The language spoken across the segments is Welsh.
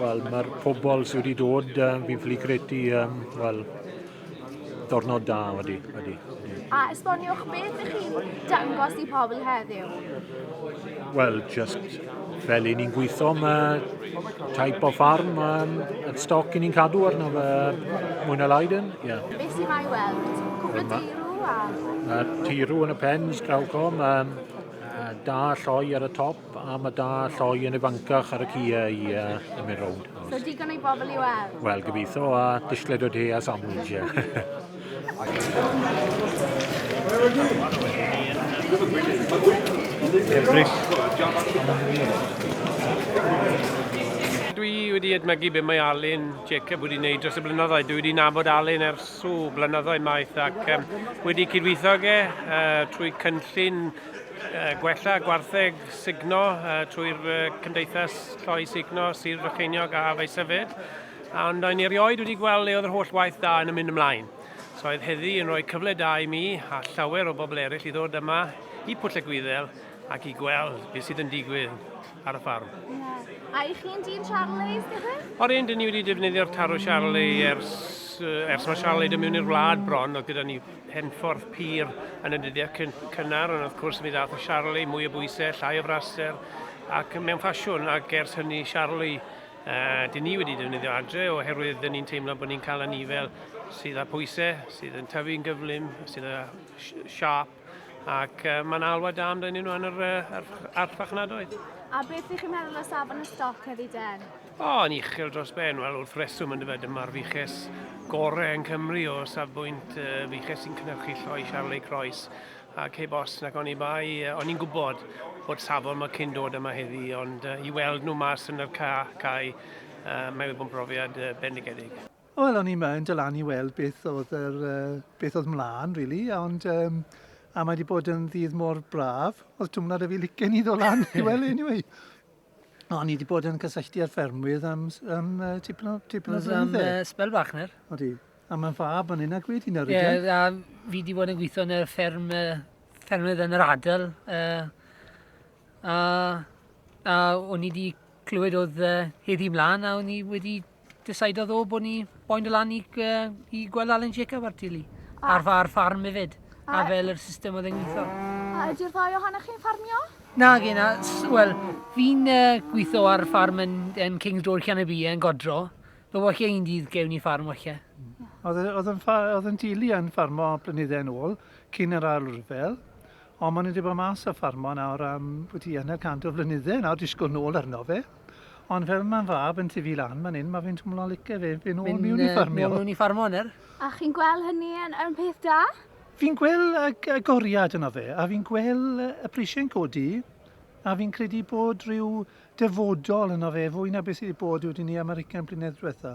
Wel, mae'r pobl sydd wedi dod, um, fi'n ffili credu, um, wel, dornod da wedi. wedi. A esboniwch beth ych chi'n dangos i pobl heddiw? Wel, just fel i ni'n gweithio, mae type o ffarm um, y stoc i ni'n cadw arno fe mwy na lai dyn. Yeah. Beth sy'n ei weld? Cwbl y tirw a... Uh, tirw yn y pens, grawcom, um, da lloi ar y top, A mae da lloi yn ifancach ar y Kia i uh, mynd rownd. So digon ei bobl i weld? Wel, gobeithio a dishlled o de a sandwich. Dwi wedi edmygu beth mae Alun Jacob wedi gwneud dros y blynyddoedd. Dwi wedi nabod Alun ers o blynyddoedd maith ac um, wedi cydweithio ge uh, trwy cynllun Gwella gwartheg sugno trwy'r Cymdeithas Lloi Sugno Sir Frycheiniog a Faesyfed, ond o'n i erioed wedi gweld le oedd yr holl waith da yn y mynd ymlaen. So oedd heddi yn rhoi cyfle da i mi a llawer o bobl eraill i ddod yma i Pwll y Gwyddel ac i gweld beth sydd yn digwydd ar y ffarm. Yeah. A i chi'n dyn Charlie, gyda? O'r un, dyn ni wedi defnyddio'r tarw Charlie ers, ers mae Charlie dy mewn i'r wlad bron, oedd gyda ni Penffordd pur yn y dyddiau cyn cynnar, ond wrth gwrs mi ddath y Charlie, mwy o bwysau, llai o fraster, ac mewn ffasiwn, ac ers hynny Charlie, uh, dyn ni wedi defnyddio adre oherwydd dyn ni'n teimlo bod ni'n cael anifail sydd â pwysau, sydd yn tyfu'n gyflym, sydd â siarp, ac uh, mae'n alwad da amdyn nhw yn yr, uh, archfarchnadoedd. A beth ydych chi'n meddwl o safon y stoc heddi den? O, yn uchel dros ben, wel wrth reswm yn dyfed, dyma'r fuches gorau yn Cymru o safbwynt uh, fuches sy'n cynhyrchu lloi Charlie Croes ac heb os nac oni bai, uh, o'n i'n gwybod bod safon mae cyn dod yma heddi, ond uh, i weld nhw mas yn yr ca, cae, uh, mae wedi bod yn brofiad uh, bendigedig. Wel, o'n i'n mynd lan i weld beth oedd, yr, uh, beth oedd mlaen, really, ond um, a mae wedi bod yn ddydd mor braf, oedd twmlad y fi licen i ddod lan i weld, anyway. O, ni wedi bod yn cysylltu â'r ffermwydd am, am uh, tipyn o, tipyn o flynydde. Am uh, spel bach ner. O di. A mae'n fab yn hyn ac wedi nawr. Ie, yeah, a fi wedi bod yn gweithio yn y fferm, uh, ffermydd yn yr adel. Uh, a, a o'n i wedi clywed oedd uh, heddi mlaen a o'n i wedi Decydodd o bod ni boen dy lan i, i gweld Alan Jacob ar tili. Ar, ar ffarm hefyd. A, a fel yr system oedd e'n gweithio. A ydy'r ddau ohonoch chi'n ffarmio? Na, gen na. Wel, fi'n uh, gweithio ar ffarm yn, yn King's Door Canabie yn Godro. Fe wachio un dydd gewn ni ffarm wachio. Oedd yn dili yn ffarmo blynyddau yn ôl, cyn yr ail rhyfel, ond maen nhw wedi bod mas o ffarmo nawr am wedi yna cant o flynyddau nawr, disgwyl nôl arno fe. Ond fel mae'n fab yn tyfu lan fan hyn, mae fe'n twmlo'n lice fe, fe'n ôl miwn i ffarmio. Miwn i ffarmio, ner? A chi'n gweld hynny yn, yn peth da? Fi'n gweld y, y goriad yno fe, a fi'n gweld y prisiau'n codi, a fi'n credu bod rhyw dyfodol yno fe fwy na beth sydd wedi bod wedi ni American blynedd diwetha.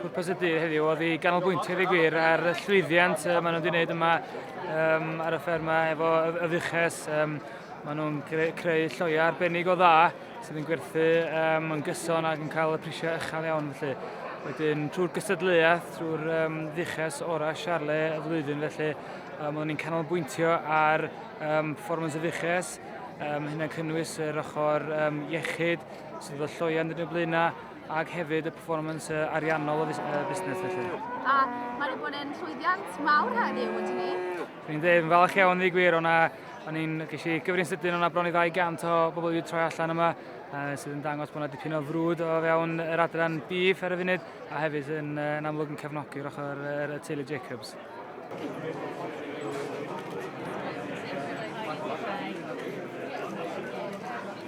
Pwrpas y dydd heddiw oedd i ganolbwyntio fi gwir ar y llwyddiant uh, maen nhw wedi gwneud yma um, ar y fferma efo y fuches. Um, maen nhw'n creu lloiau arbennig o dda sydd yn gwerthu um, yn gyson ac yn cael y prisiau uchel iawn felly. Wedyn trwy'r gystadleuaeth, trwy'r um, dduches ora siarle y flwyddyn felly, um, oedden ni'n canolbwyntio ar um, performance y dduches, um, hynny'n cynnwys yr ochr um, iechyd, sydd efo lloian yn y blaenau ac hefyd y performance uh, ariannol o uh, busnes felly. A mae wedi bod yn llwyddiant mawr heddiw, wedi ni? Dwi'n dweud, yn falch iawn ddi gwir, o'na o'n i'n gysi i gyfrin sydyn o'na bron i 200 o bobl wedi troi allan yma uh, sydd yn dangos bod yna dipyn o frwd o fewn yr adran bif ar y funud a hefyd yn, uh, yn amlwg yn cefnogi'r ochr yr, y teulu Jacobs.